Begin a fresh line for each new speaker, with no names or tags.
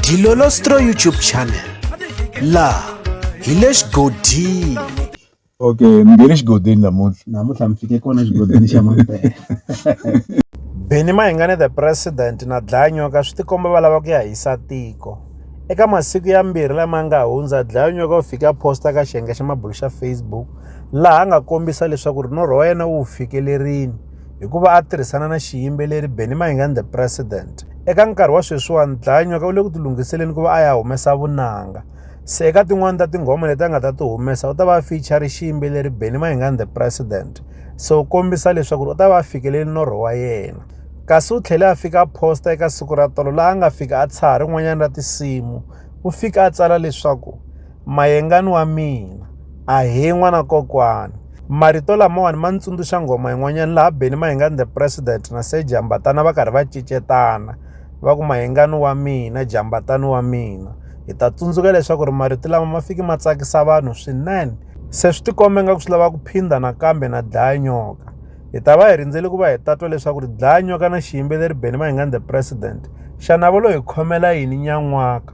Dilolostro YouTube channel laha hi le xigodini okay
mi nge le xigodini namuntlha namuntlha mi fike kona xigodini xa mampela
beni mahingane the president na dlayanyoka swi tikomba va lava ku ya hisa tiko eka masiku ya mbirhi lama nga hundza dlayanyoka u fike a posta ka xiyenge xa mabulo xa facebook laha a nga kombisa leswaku ri norho wa yena wu fikelerini hi ku va a tirhisana na xiyimbeleri Benny Mayengani the President. Eka nkarhi wa sweswiwani Dlanywa u le ku tilunghiseleni ku va a ya humesa vunanga. Se eka tin'wani ta tinghoma leti a nga ta ti humesa u ta va a feature xiyimbeleri Benny Mayengani the President. Se u kombisa leswaku u ta va a fikeleli norho wa yena. Kasi u tlhele a fika a posta eka siku ra tolo laha a nga fika a tshaha rin'wanyana ra tinsimu. U fika a tsala leswaku Mayengani wa mina, ahee n'wana kokwani. Marito lamawani ma ni tsundzuxa nghoma yin'wanyana laha Benny Mayengani the President na Sir Jambatana va karhi va cicetana va ku Mayengani wa mina Jambatani wa mina hi ta tsundzuka leswaku ri marito lama ma fiki ma tsakisa vanhu swinene se swi tikomba ingaku swi lava ku phinda nakambe na dlaya nyoka hi ta va hi rindzele ku va hi tatwa leswaku ri dlaya nyoka na xiyimbeleri Benny Mayengani the President xana va lo hi khomela yini nyan'waka